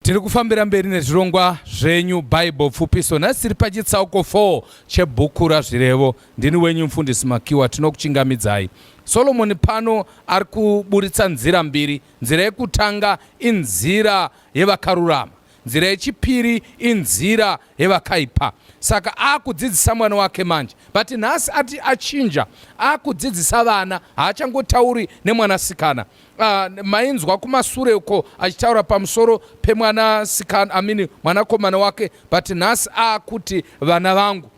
Tiri kufambira mberi nezvirongwa zvenyu Bible pfupiso. Nhasi tiri pachitsauko 4 chebhuku raZvirevo. Ndini wenyu mfundisi Makiwa tinokuchingamidzai. Solomoni pano ari kuburitsa nzira mbiri. Nzira yekutanga inzira yevakarurama. Nzira yechipiri inzira yevakaipa. Saka akudzidzisa mwana wake manje. But nhasi ati achinja akudzidzisa vana haachangotauri nemwanasikana. Ah, mainzwa kumasure uko achitaura pamusoro pemwana sikana amini mwanakomana wake but nhasi akuti vana vangu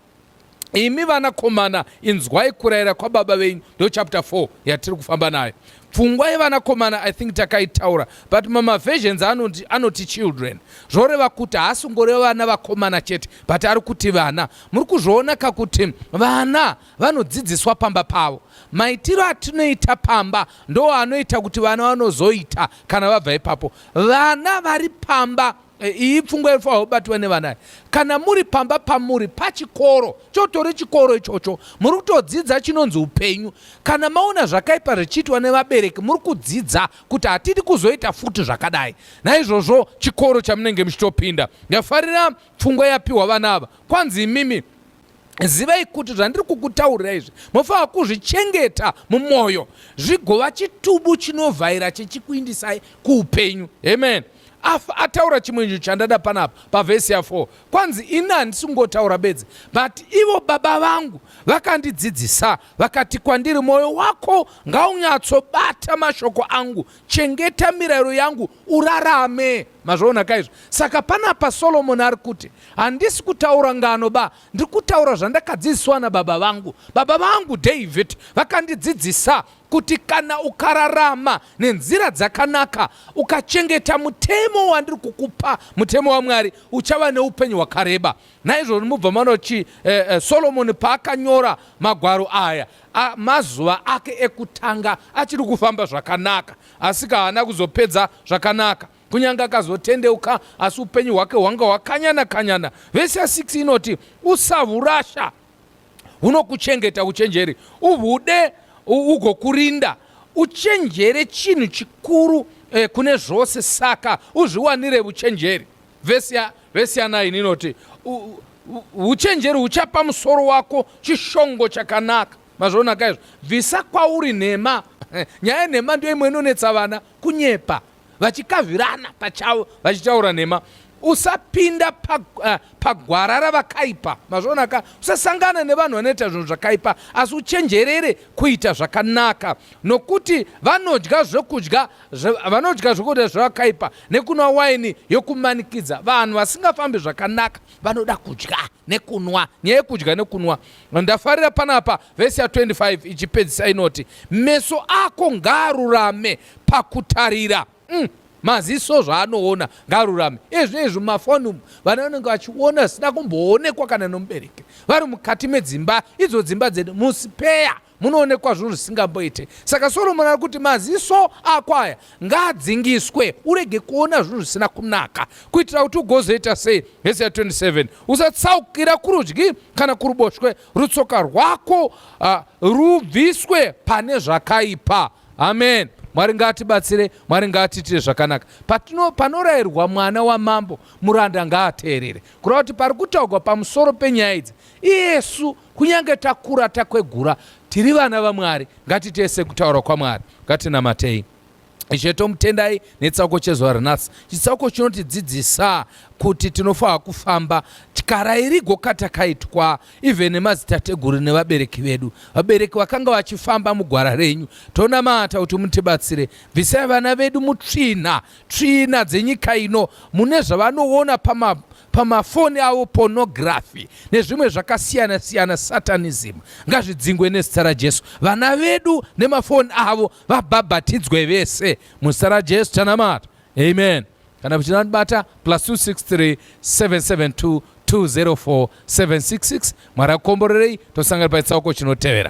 imi vanakomana inzwai kurayira kwababa venyu ndo chapter 4 yatiri kufamba nayo pfungwa yevanakomana i think takaitaura but mamaversions anoti, anoti children zvoreva kuti haasingoreva vana vakomana chete but ari kuti vana muri kuzviona kakuti vana vanodzidziswa pamba pavo. Maitiro atinoita pamba ndoo anoita kuti vana vanozoita kana vabva ipapo. Vana vari pamba eh, iyi pfungwa inofanirwa kubatwa nevana. Kana muri pamba pamuri pachikoro, chotori chikoro ichocho, muri kutodzidza chinonzi upenyu. Kana maona zvakaipa zvichiitwa nevabereki, muri kudzidza kuti hatidi kuzoita futi zvakadai. Naizvozvo chikoro chamunenge muchitopinda, ndafarira pfungwa yapiwa vana ava, kwanzi imimi zivai kuti zvandiri kukutaurira izvi mofanira kuzvichengeta mumwoyo zvigova chitubu chinovhaira chichikuindisai kuupenyu amen ataura chimwe nyu chandada panapa pavhesi ya4 kwanzi ini handisi kungotaura bedzi but ivo baba vangu vakandidzidzisa vakati kwandiri mwoyo wako ngaunyatsobata mashoko angu chengeta mirayiro yangu urarame mazvoona kaizvo saka panapa solomoni ari kuti handisi kutaura ngano ba ndiri kutaura zvandakadzidziswa nababa vangu baba vangu david vakandidzidzisa kuti kana ukararama nenzira dzakanaka ukachengeta mutemo wandiri kukupa mutemo wamwari uchava neupenyu hwakareba naizvozvo mubva manochi eh, eh, solomoni paakanyora magwaro aya mazuva ake ekutanga achiri kufamba zvakanaka Asika haana kuzopedza zvakanaka kunyange akazotendeuka asi upenyu hwake hwanga hwakanyana kanyana vhesi ya 6 inoti usahurasha hunokuchengeta uchenjeri uhude ugokurinda uchenjere chinhu chikuru eh, kune zvose saka uzviwanire uchenjeri vhesi ya 9 inoti uchenjeri huchapa musoro wako chishongo chakanaka Mazvonaka izvo. Bvisa kwauri nhema. Nyaya yenhema ndiyo imwe inonetsa vana kunyepa vachikavirana pachavo vachitaura nhema. Usapinda pa, uh, pagwara ravakaipa. Mazvonaka. Usasangana nevanhu vanoita zvinhu zvakaipa asi uchenjerere kuita zvakanaka nokuti vanodya zvokudya vanodya zvokudya zvevakaipa nekunwa waini yokumanikidza. Vanhu vasingafambi zvakanaka vanoda kudya nekunwa. Nyaya yekudya nekunwa Ndafarira panapa vhesi ya 25 ichipedzisa inoti, meso ako ngaarurame pakutarira. Mm, maziso zvaanoona ngaarurame. Ezvinei zvimafoni umu vana vanenge vachiona zvisina kumboonekwa kana nomubereki. Vari mukati medzimba, idzo dzimba dzedu musipeya munoonekwa zvinhu zvisingamboite. Saka Soromoni ari kuti maziso ako aya ngaadzingiswe urege kuona zvinhu zvisina kunaka kuitira kuti ugozoita sei hesi ya 27 usatsaukira kurudyi kana kuruboshwe rutsoka rwako uh, rubviswe pane zvakaipa amen mwari ngaatibatsire mwari ngaatiitire zvakanaka patino panorayirwa mwana wamambo muranda ngaateerere kureva kuti pari kutaurwa pamusoro penyaya idzi iyesu Kunyange takura takwegura, tiri vana vaMwari. Ngatitese kutaura kwaMwari. Ngatinamatei. Ishe, tomutendai nechitsauko chezuva ranhasi. Chitsauko chinotidzidzisa kuti tinofanira kufamba tyara irigo katakaitwa even nemadzitateguru nevabereki vedu. Vabereki vakanga vachifamba mugwara renyu. Tonamata kuti mutibatsire. Bvisai vana vedu mutsvina, tsvina dzenyika ino mune zvavanoona pama pamafoni avo pornography nezvimwe zvakasiyana siyana satanism ngazvidzingwe nezita rajesu vana vedu nemafoni avo vabhabhatidzwe vese muzita rajesu tanamata amen kana muchida kundibata plus 263 772 204 766 mwari akukomborerei tosangana paitsauko chinotevera